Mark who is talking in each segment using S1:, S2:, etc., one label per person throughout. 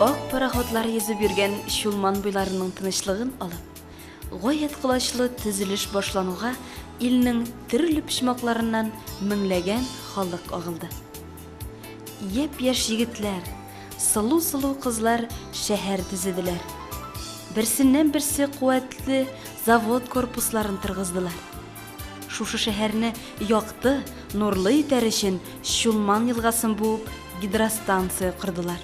S1: Ак пароходлар йөзеп йөргән Чулман буйларының тынычлыгын алып, гаять колачлы төзелеш башлануга илнең төрле почмакларыннан меңләгән халык агылды. Япь-яшь егетләр, сылу-сылу кызлар шәһәр төзеделәр. Берсеннән-берсе куәтле завод корпусларын торгыздылар. Шушы шәһәрне якты, нурлы итәр өчен Чулман елгасын буып гидростанция кордылар.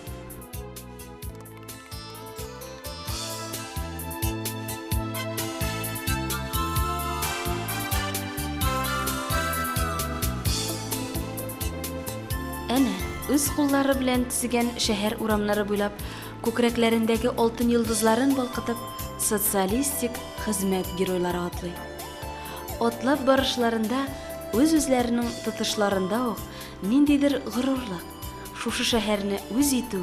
S1: Әнә, үз куллары белән төзегән шәһәр урамнары буйлап, күкрәкләрендәге алтын йолдызларын балкытып, социалистик хезмәт геройлары атлый. Атлап барышларында үз-үзләренең тотышларында ук ниндидер горурлык, шушы шәһәрне үз итү,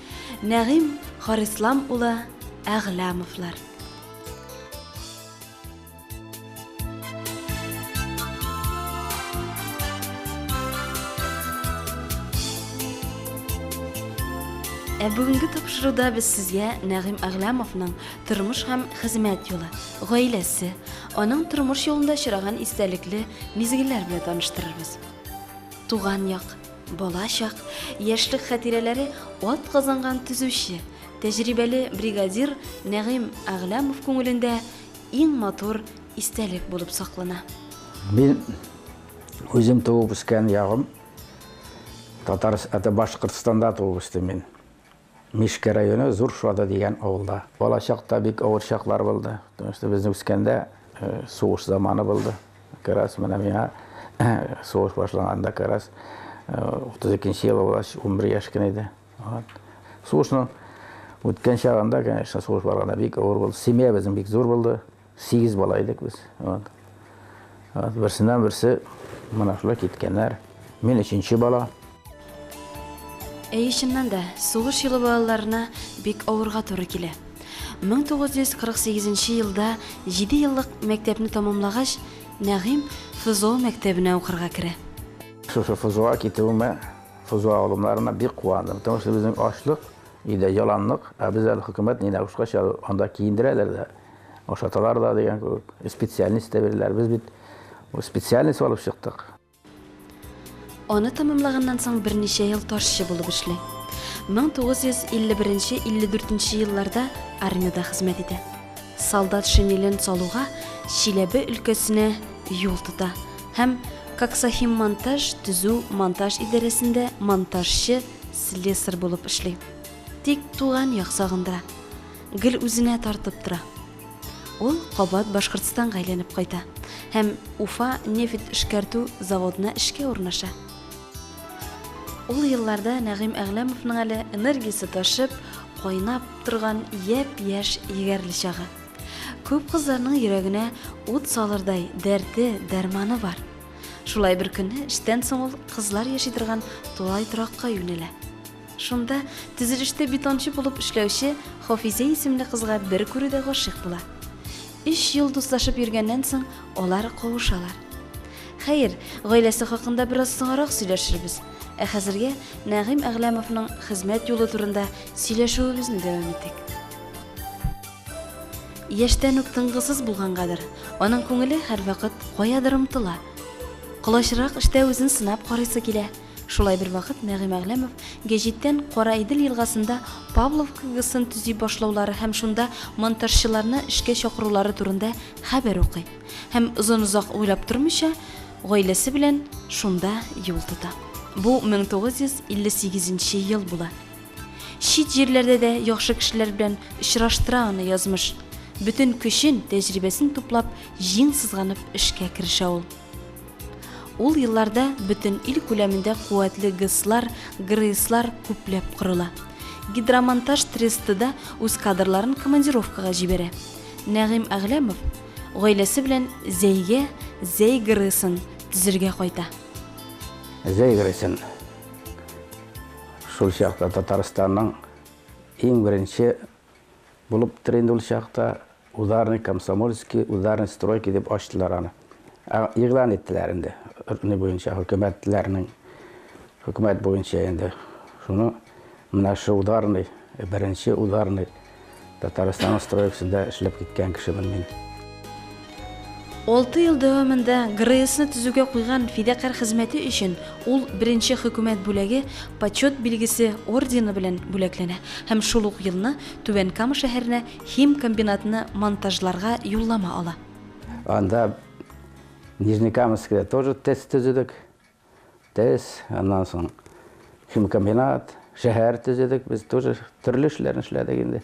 S1: Нәгыйм Харислам улы Әгъләмовлар. Ә бүгенге тапшыруда без сезгә Нәгыйм Әгъләмовның тормыш һәм хезмәт юлы, гаиләсе, аның тормыш юлында очраган истәлекле мизгелләр белән таныштырырбыз. Туган як, Бала чак, яшьлек хәтирәләре атказанган төзүче, тәҗрибәле бригадир Нәгыйм Әгъләмов күңелендә иң матур истәлек булып саклана. Мин
S2: үзем туып үскән ягым Татар, это Башкортстанда туып үстем мин. Мишкә районы Зур Шода дигән авылда. Бала чакта бик авыр чаклар булды. Потому что безнең үскәндә сугыш заманы булды. Как раз менә миңа сугыш башланганда как раз 32 ел була, 11 яшь кенә иде. Вот. Сугышның үткән чагында, конечно, сугыш барганда бик авыр булды. Семьябезнең бик зур булды. Сигез бала идек без. Вот. Вот, берсеннән берсе менә шулай киткәннәр. Мин өченче бала. Әй,
S1: чыннан да, сугыш елы балаларына бик авырга туры килә. 1948 елда 7 еллык мәктәпне тәмамлагач, Нәгыйм ФЗО мәктәбенә укырга керә. Шушы ФЗОга
S2: китүемә, ФЗО алымнарына бик куандым. Потому что безнең ашлык, өйдә яланлык, ә без әле хөкүмәт ненә ушкач, анда киендерәләр дә. ашаталар да дигән кебек специальность та бирделәр без бит специальность алып чыктык
S1: аны тәмамлаганнан соң берничә ел ташчы булып эшли 1951-54 елларда армиядә хезмәт итә солдат шинелен салуга чиләбе өлкәсенә юл тота һәм коксахим монтаж төзү монтаж идарәсендә монтажчы слесарь булып эшли тик туган як сагындыра гел үзенә тартып тора. Ул кабат Башкортстанга әйләнеп кайта һәм Уфа нефть эшкәртү заводына эшкә урнаша. Ул елларда Нәгыйм Әгъләмовның әле энергиясе ташып, кайнап торган япь-яшь егәрле чагы. Күп кызларның йөрәгенә ут салырдай дәрте, дәрманы бар. Шулай беркөнне эштән соң ул кызлар яши торган тулай торакка юнәлә. Шунда төзелештә бетончы булып эшләүче Хафизә исемле кызга бер күрүдә гашыйк була. Өч ел дуслашып йөргәннән соң алар кавышалар. Хәер, гаиләсе хакында бераз соңарак сөйләшербез, ә хәзергә Нәгыйм Әгъләмовның хезмәт юлы турында сөйләшүебезне дәвам итик. Яшьтән үк тынгысыз булгангадыр, аның күңеле һәрвакыт каядыр омтыла. Колачрак эштә үзен сынап карыйсы килә. Шулай бервакыт Нәгыйм Әгъләмов гәҗиттән Кара Идел елгасында Павлов КГСын төзи башлаулары һәм шунда монтажчыларны эшкә чакырулары турында хәбәр укый һәм озын-озак уйлап тормыйча, гаиләсе белән шунда юл тота. Бу 1958 нче ел була. Чит җирләрдә дә яхшы кешеләр белән очраштыра аны язмыш. Бөтен көчен, тәҗрибәсен туплап, җиң сызганып эшкә керешә ул. Ул елларда бөтен ил күләмендә куәтле ГЭСлар, ГРЭСлар күпләп корыла. Гидромонтаж тресты да үз кадрларын командировкага җибәрә. Нәгыйм Әгъләмов гаиләсе белән Зәйгә Зәй ГРЭСын төзергә кайта.
S2: Зәй ГРЭСын шул чакта Татарстанның иң беренче булып тор инде ул чакта, ударник, комсомольский, ударник стройки дип ачтылар аны. Ә, игълан иттеләр инде, не буенча, хөкүмәтләрнең, хөкүмәт буенча инде. Шуны, менә шу ударный, беренче ударный, Татарстанның стройкасында эшләп киткән кешемен мин. Алты
S1: ел дәвамында ГРЭСны төзүгә куйган фидакарь хезмәте өчен ул Беренче Хөкүмәт бүләге Почет билгесе ордены белән бүләкләнә һәм шул ук елны Түбән Кама шәһәренә химкомбинатны монтажларга юллама ала. Анда
S2: Нижнекамскида тоже ТЭЦ төзедек. Тез, аннан соң химкомбинат, шәһәр төзедек, без тоже төрле эшләрне эшләдек инде.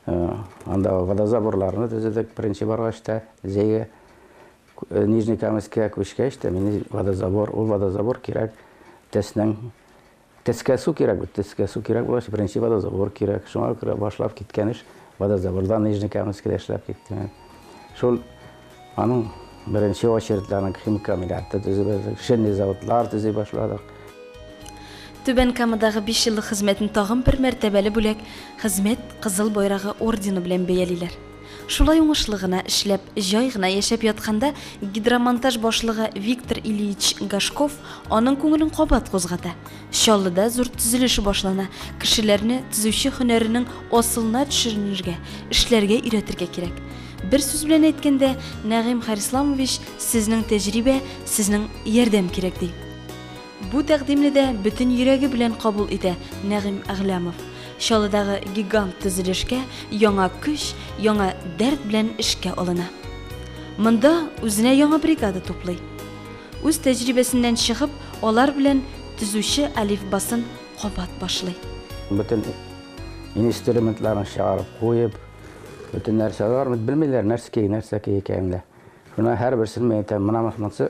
S2: Анда водозаборларны төзедек, беренче баргач та, Зәйгә, э, Нижнекамыскә күчкәч тә, мин водозабор, ул водозабор кирәк, Теснең Төскә су кирәк бит, төскә су кирәк булгач, беренче водозабор кирәк. Шуңа күрә башлап киткән эш водозабордан Нижнекаменскида эшләп киттем. Шул аның беренче очередьдә аның химкомбинаты төзеп бирдек, шинный заводлар төзи башладык.
S1: Түбән Камадагы биш еллык хезмәтен тагын бер мәртәбәле бүләк, Хезмәт Кызыл Байрагы ордены белән бәялиләр. Шулай уңышлы гына эшләп, җай гына яшәп ятканда гидромонтаж башлыгы Виктор Ильич Гашков аның күңелен кабат кузгата. Чаллыда зур төзелеш башлана, кешеләрне төзүче һөнәренең асылына төшеренергә, эшләргә өйрәтергә кирәк. Бер сүз белән әйткәндә, Нәгыйм Харисламович, сезнең тәҗрибә, сезнең ярдәм кирәк, ди. Бу тәкъдимне дә бөтен йөрәге белән кабул итә Нәгыйм Әгъләмов. Чаллыдагы гигант төзелешкә яңа көч, яңа дәрт белән эшкә алына. Монда үзенә яңа бригада туплый. Үз тәҗрибәсеннән чыгып, алар белән төзүче әлифбасын кабат башлый. Бөтен
S2: инструментларын чыгарып куеп, бөтен нәрсә, алар бит белмиләр нәрске, нәрсәки икәнен дә. Шуны һәрберсен мин әйтәм, менә монсы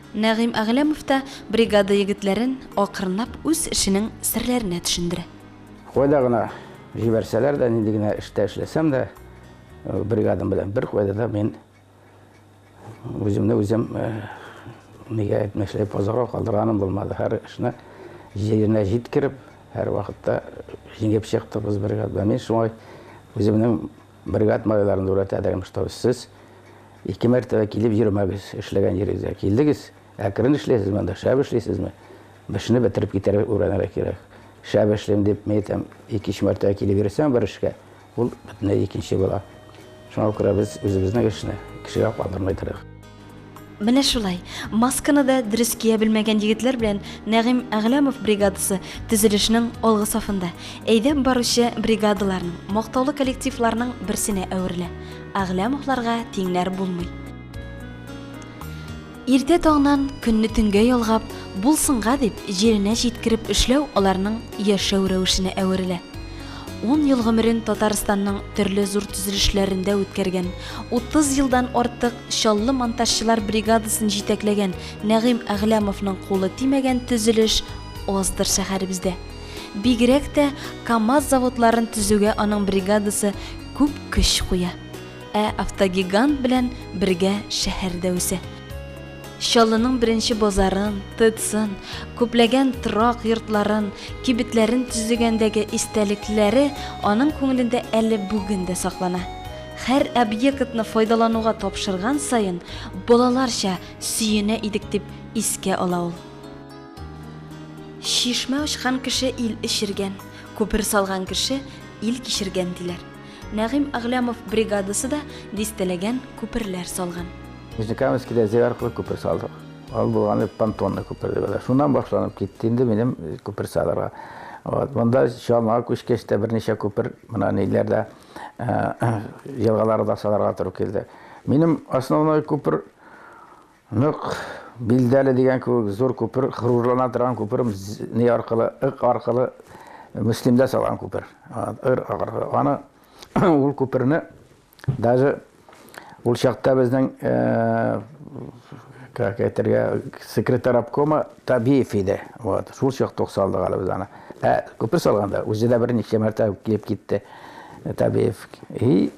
S1: Нәгыйм Әгъләмов та бригада егетләрен акрынлап үз эшенең серләренә төшендерә. Кайда гына
S2: җибәрсәләр дә, нинди генә эштә эшләсәм дә, бригадам белән беркайда да мин үземне үзем нигә әйтмешли позорга калдырганым булмады. Һәр эшне җиренә җиткереп, һәрвакытта җиңеп чыктык без бригадада. Мин шулай үземнең Бригад малайларын үрәтә дәрем, что сез ике мәртәбә килеп йөрмәгез, эшләгән йөрегезгә килдегез, әкрен эшләйсез монда, шәп эшләйсезме? Бешне бетереп китәргә үрәнергә кирәк. Шәп эшлим дип, мин әйтәм, ике-өч мәртәбә килеп йөрсәң бер эшкә, ул бөтенләй икенче була. Шуңа күрә без үзебезнең эшне кешегә калдырмый торыйк. Менә
S1: шулай. Масканы да дөрес кия белмәгән егетләр белән Нәгыйм Әгъләмов бригадасы төзелешнең алгы сафында, әйдәп баручы бригадаларның, мактаулы коллективларның берсенә әверелә. Әгъләмовларга тиңнәр булмый. Иртә таңнан көнне төнгә ялгап, булсынга дип, җиренә җиткереп эшләү аларның яшәү рәвешенә әверелә. Ун ел гомерен Татарстанның төрле зур төзелешләрендә үткәргән, 30 елдан артык Чаллы монтажчылар бригадасын җитәкләгән Нәгыйм Әгъләмовның кулы тимәгән төзелеш аздыр шәһәребездә. Бигрәк тә КАМАЗ заводларын төзүгә аның бригадасы күп көч куя. Ә автогигант белән бергә шәһәр дә үсә. Чаллының беренче базарын, ТЭЦын, күпләгән торак йортларын, кибетләрен төзегәндәге истәлекләре аның күңелендә әле бүген дә саклана. Һәр объектны файдалануга тапшырган саен, балаларча сөенә идек, дип искә ала ул. Чишмә ачкан кеше ил эчергән, күпер салган кеше ил кичергән, диләр. Нәгыйм Әгъләмов бригадасы да дистәләгән күперләр салган. Нижнекамскида
S2: җир аркылы күпер салдык. Ул булганда понтонный күпер дип атала. Шуннан башланып китте инде минем күпер салырга. Вот. Монда Чалмага күчкәч тә берничә күпер менә ниләрдә елгаларда салырга туры килде. Минем основной күпер Нык, билдәле дигән кебек зур күпер, горурлана торган күпер, ни аркылы, ык аркылы, Мөслимдә салган күпер. Ыр аркылы. Аны, ул күперне, даже ул чакта безнең, как әйтергә, секретарь обкома Табиев иде. Вот, шул чакта ук салдык әле без аны. Ә күпер салганда, үзе дә берничә мәртәбә килеп китте Табиев. И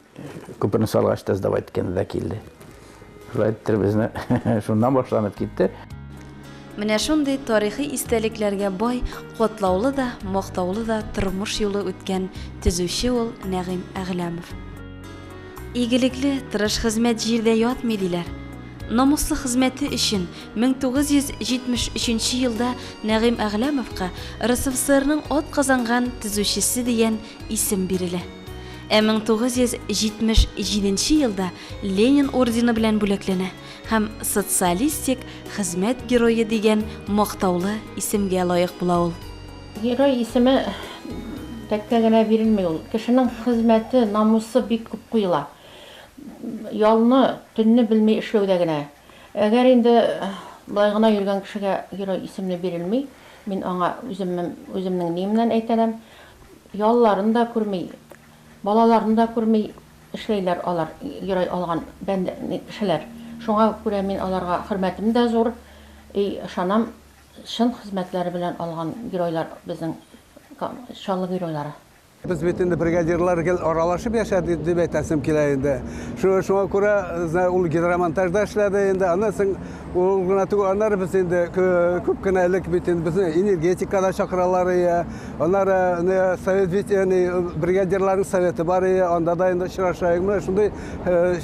S2: күперне салгач та сдавать иткәндә дә килде. Шулайтыр безне шуннан башланып китте. Менә
S1: шундый тарихи истәлекләргә бай, котлаулы да, мактаулы да тормыш юлы үткән төзүче ул Нәгыйм Әгъләмов. Игелекле, тырыш хезмәт җирдә ятмый диләр. Намуслы хезмәте өчен 1973 елда Нәгыйм Әгъләмовка РСФСРның ат казанган төзүчесе дигән исем бирелә. Ә 1977 елда Ленин ордены белән бүләкләнә һәм Социалистик хезмәт герое дигән мактаулы исемгә лаек була ул. Герой исеме
S3: тәккә генә бирелми ул. Кешенең хезмәте, намусы бик күп куела. Ялны, төнне белми эшләүдә генә. Әгәр инде болай гына йөргән кешегә герой исемне бирелми, мин аңа үземнең ниемнән әйтәнәм, ялларын да күрми, балаларын да күрми, Эшләйләр алар герой алган бәндә кешеләр. Шуңа күрә мин аларга хөрмәтем дә зур и ышанам чын хезмәтләре белән алган геройлар безнең ка Чаллы геройлары. Без бит инде
S4: бригадирлар гел аралашып яшәдек дип әйтәсем килә инде. Шу шуңа күрә ул гидромонтажда эшләде инде, аннан соң Ул гына түгел, аннары без инде күп кенә элек бит инде безне энергетикада чакыралар ие. Аннары не совет бит яни бригадирларның советы бар ие, анда да инде очрашайык. Менә шундый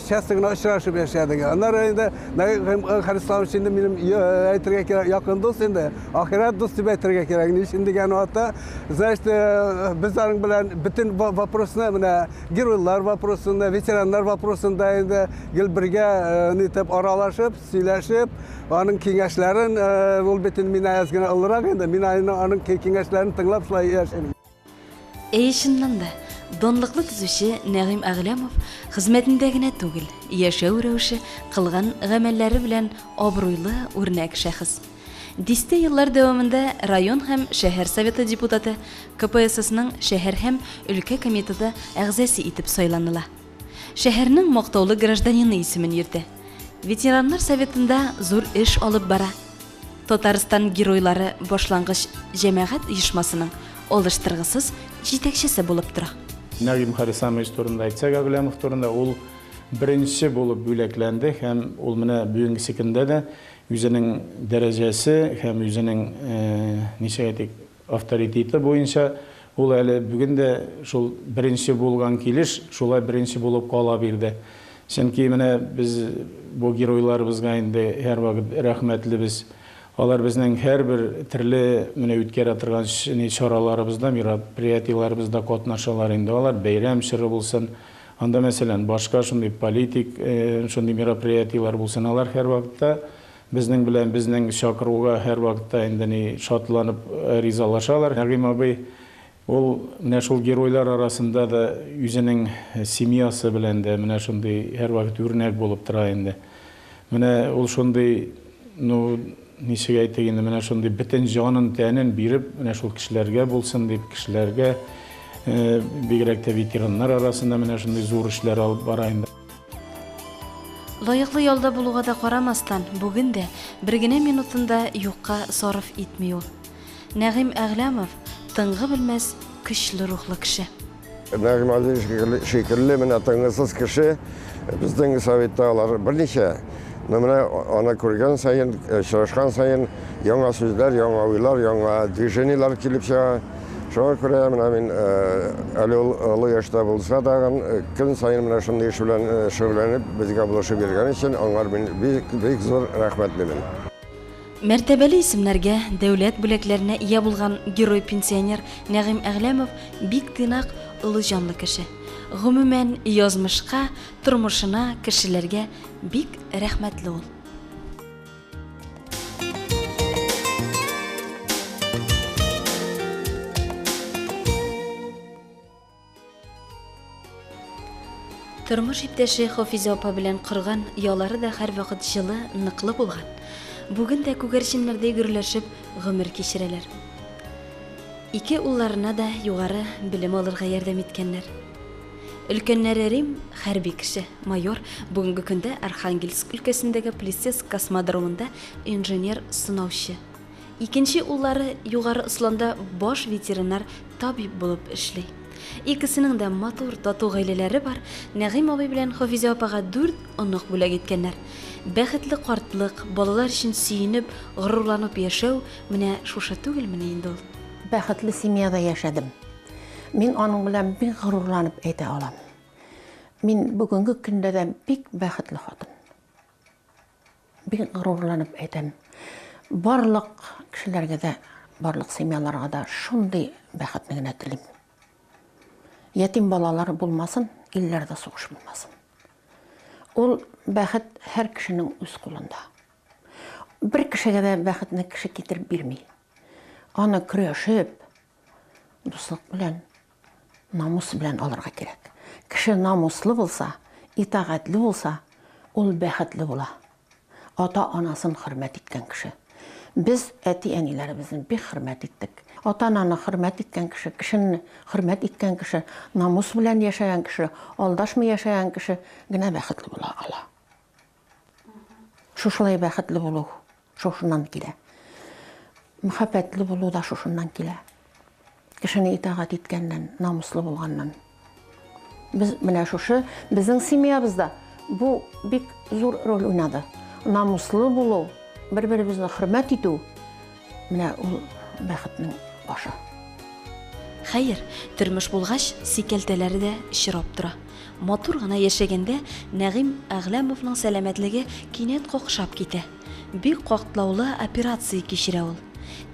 S4: часто гына очрашып яшәдек. Аннары инде Хәлис Исламович инде минем әйтергә кирәк, якын дус инде. Ахирәт дус дип әйтергә кирәк. Ни өчен дигән вакытта, значит, без аның белән бөтен вопросны менә геройлар вопросында, ветераннар вопросында инде гел бергә нитеп аралашып, сөйләшеп, аның киңәшләрен ул бит инде мин әз генә олырак инде, мин аның киңәшләрен тыңлап шулай яшим. Әй,
S1: чыннан да, данлыклы төзүче Нәгыйм Әгъләмов хезмәтендә генә түгел, яшәү рәвеше, кылган гамәлләре белән абруйлы үрнәк шәхес. Дистә еллар дәвамында район һәм шәһәр советы депутаты, КПССның шәһәр һәм өлкә комитеты әгъзасе итеп сайланыла. Шәһәрнең мактаулы гражданины исемен йөртә. Ветераннар советында зур эш алып бара. Татарстан Геройлары башлангыч җәмәгать оешмасының алыштыргысыз җитәкчесе булып тора. Нәгыйм Харисамович
S5: турында әйтсәк, Әгъләмов турында, ул беренче булып бүләкләнде һәм ул менә бүгенгесе көндә дә үзенең дәрәҗәсе һәм үзенең, ничек әйтик, Авторитеты буенча ул әле бүген дә шул беренче булган килеш шулай беренче булып кала бирде. Чөнки менә без бу геройларыбызга инде һәрвакыт рәхмәтлебез. Алар безнең һәрбер төрле менә үткәрә торган чараларыбызда, мероприятиеләребездә катнашалар инде алар. Бәйрәм чоры булсын, анда мәсәлән башка шундый политик шундый мероприятиеләр булсын, алар һәрвакытта, Безнең белән безнең чакыруга һәрвакытта инде ни шатланып ризалашалар. Нәгыйм абый ул менә шул геройлар арасында да үзенең семьясы белән дә менә шундый һәрвакыт үрнәк булып тора инде. Менә ул шундый, ну, ничек әйтик инде, менә шундый бөтен җанын, тәнен биреп, менә шул кешеләргә булсын дип, кешеләргә, бигрәк тә ветераннар арасында менә шундый зур эшләр алып бара инде. Лаеклы
S1: ялда булуга да карамастан, бүген дә бер генә минутын да юкка сарыф итми ул. Нәгыйм Әгъләмов, тынгы белмәс, көчле рухлы кеше. Нәгыйм
S6: Алиевич шикелле менә тынгысыз кеше безнең Советта алар берничә. Но менә аны күргән саен, очрашкан саен яңа сүзләр, яңа уйлар, яңа движениеләр килеп чыга. Шуңа күрә менә мин әле ул олы яшьтә булса тагын көн саен менә шундый эш белән шөгыльләнеп безгә булышып йөргән өчен аңар мин бик бик зур рәхмәтлемен.
S1: Мәртәбәле исемнәргә, дәүләт бүләкләренә ия булган герой-пенсионер Нәгыйм Әгъләмов бик тыйнак, олы җанлы кеше. Гомумән, язмышка, тормышына, кешеләргә бик рәхмәтле ул. Тормыш иптәше Хафиза апа белән кырган ялары да һәрвакыт җылы, ныклы булган. Бүген дә күгәрченнәрдә гөрләшеп гомер кичерәләр. Ике улларына да югары белем алырга ярдәм иткәннәр. Өлкәннәре Рим, хәрби кеше, майор, бүгенге көндә Архангельск өлкәсендәге Плесецк космодромында инженер-сынаучы. Икенче уллары Югары Осланда баш ветеринар табиб булып эшли. Икесенең дә матур, тату гаиләләре бар. Нәгыйм абый белән Хафизә апага дүрт онык бүләк иткәннәр. Бәхетле картлык, балалар өчен сөенеп, горурланып яшәү, менә шушы түгелмени инде ул? Бәхетле семьяда
S3: яшәдем. Мин аның белән бик горурланып әйтә алам. Мин бүгенге көндә дә бик бәхетле хатын. Бик горурланып әйтәм. Барлык кешеләргә дә, барлык семьяларга да шундый бәхетне генә телим. Ятим балалары булмасын, илләрдә сугыш булмасын. Ул бәхет һәр кешенең үз кулында. Бер кешегә дә бәхетне кеше китереп бирми. Аны көрәшеп, Дуслык белән, намус белән алырга кирәк. Кеше намуслы булса, итагатьле булса, ул бәхетле була. Ата-анасын хөрмәт иткән кеше. Без әти-әниләребезне бик хөрмәт иттек. Ата-ананы хөрмәт иткән кеше, кешене хөрмәт иткән кеше, намус белән яшәгән кеше, алдашмый яшәгән кеше генә бәхетле була ала. Шушылай бәхетле булу шушыннан килә. Мөхәббәтле булу да шушыннан килә. Кешене итагать иткәннән, намуслы булганнан. Без менә шушы безнең семьябызда бу бик зур роль уйнады. Намуслы булу, бер-беребезне хөрмәт итү, Менә ул бәхетнең башы.
S1: Хәер, тормыш булгач, сикәлтәләре дә чирап тора. Матур гына яшәгәндә Нәгыйм Әгъләмовның сәламәтлеге кинәт какшап китә. Бик катлаулы операция кичерә ул.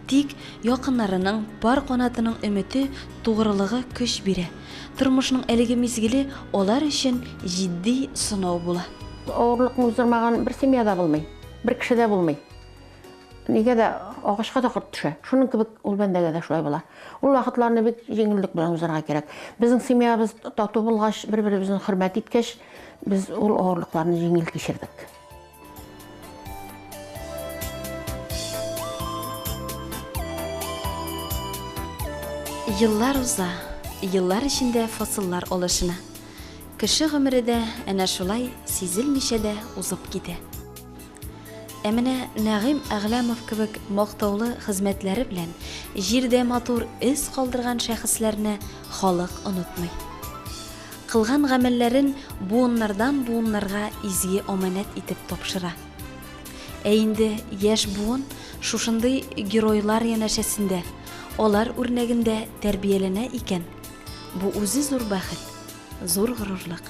S1: Тик якыннарының, пар канатының өмете, тугрылыгы көч бирә. Тормышның әлеге мизгеле алар өчен җитди сынау була. Авырлыкны
S3: уздырмаган бер семья да булмый, бер кеше дә булмый. Нигә дә агачка да корт төшә. Шуның кебек ул бәндәгә дә шулай була. Ул вакытларны бик җиңеллек белән узарга кирәк. Безнең семьябыз тату булгач, бер-беребезне хөрмәт иткәч, без ул авырлыкларны җиңел кичердек.
S1: Еллар уза, еллар эчендә фасыллар алышына. Кеше гомере дә әнә шулай сизелмичә дә узып китә. Ә менә Нәгыйм Әгъләмов кебек мактаулы хезмәтләре белән җирдә матур эз калдырган шәхесләрне халык онытмый. Кылган гамәлләрен буыннардан-буыннарга изге аманәт итеп тапшыра. Ә инде яшь буын шушындый геройлар янәшәсендә, алар үрнәгендә тәрбияләнә икән, бу үзе зур бәхет, зур горурлык.